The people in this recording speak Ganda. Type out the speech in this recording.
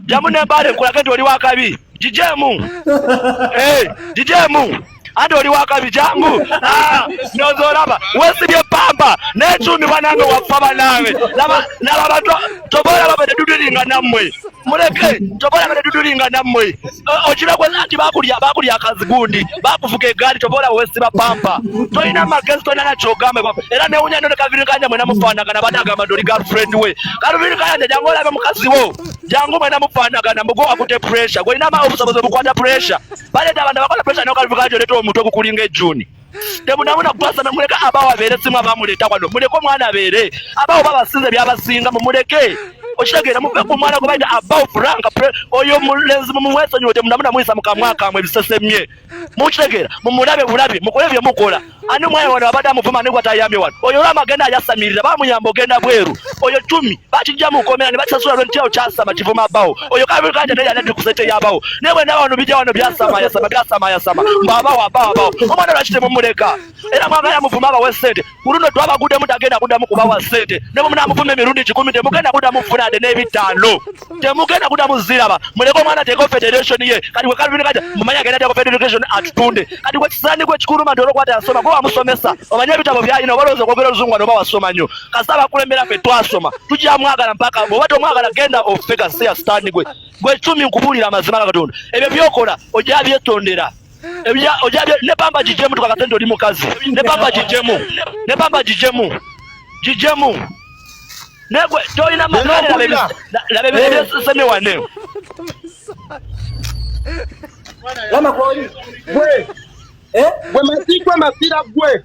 jamu ne bare kola kati oli wakabi jijemu eh jijemu ate oli wakabi jamu ah nozo laba wesi bye pamba ne chumi banange wafa banange laba laba bato tobola baba de dudulinga namwe muleke tobola baba de dudulinga namwe okiragwe nanti bakulya bakulya akazigundi bakuvuga egaali tobola wesiba pampa tolina magezi tolina nakyogamba era newunya nyo ne kaviri kanja mwena mufaanagana bade agamba ndi oli girlfriend we kaviri kanja jangu olabe mukazi wo jangu mwena mufaanagana mbugo akute pressure gwolina ma obusobozi obukwata pressure baleta abantu abakola pressure nokaviri kanja oleta omutwe gukulinga ejuni temunamuna basa namuleka abawo abeere simu abamuleeta wano muleke omwana abeere abawo babasinze byabasinga mumuleke okitegeera muve ku mwana gwebaita abawo frank oyo mulenzi mumumwesonyiwe temunamuna muyisa mukamwa kamwe ebisesemye mukitegeera mumulabe bulabi mukole byemukola ani omwana wano abadde amuvuma nigwatayambye wano oyo olwamagenda ayasamirira bamuyamba ogenda bweru oyo tumi bakijja mu komera ne bakisasula lwe ntiyo kyasama kivuma bawo oyo kabe ka tete yana ndi kusete ya bawo ne bwe na wano bijja wano byasama ya sama byasama ya sama baba wa baba bawo omwana lwakite mu muleka era mwaba ya muvuma ba wesete kuruno twaba gude mu tagenda kuda mu kuba wasete ne mu na muvume mirundi 10 de mugenda kuda mu funa de ne bitano de mugenda kuda mu ziraba muleko mwana teko federation ye kati we kalbi kaja mumanya genda teko federation atutunde kati we kisani kwe kikuru mandoro kwata asoma kwa musomesa omanya bitabo bya ino balozo kwa kero zungwa no ba wasoma nyo kasa bakulembera fe twasoma tujja mwagala mpaka bwoba tomwagala genda ofe gasiya sitani gwe gwe cumi nkubuulira amazima ga katonda ebyo byokola ojja byetondera ojja ne pamba gijemu tukakase nti oli mukazi ne pamba gijemu ne pamba gijemu gijemu negwe tolina makalabebesemi wane wama kwoli gwe eh? gwe masigwe masira gwe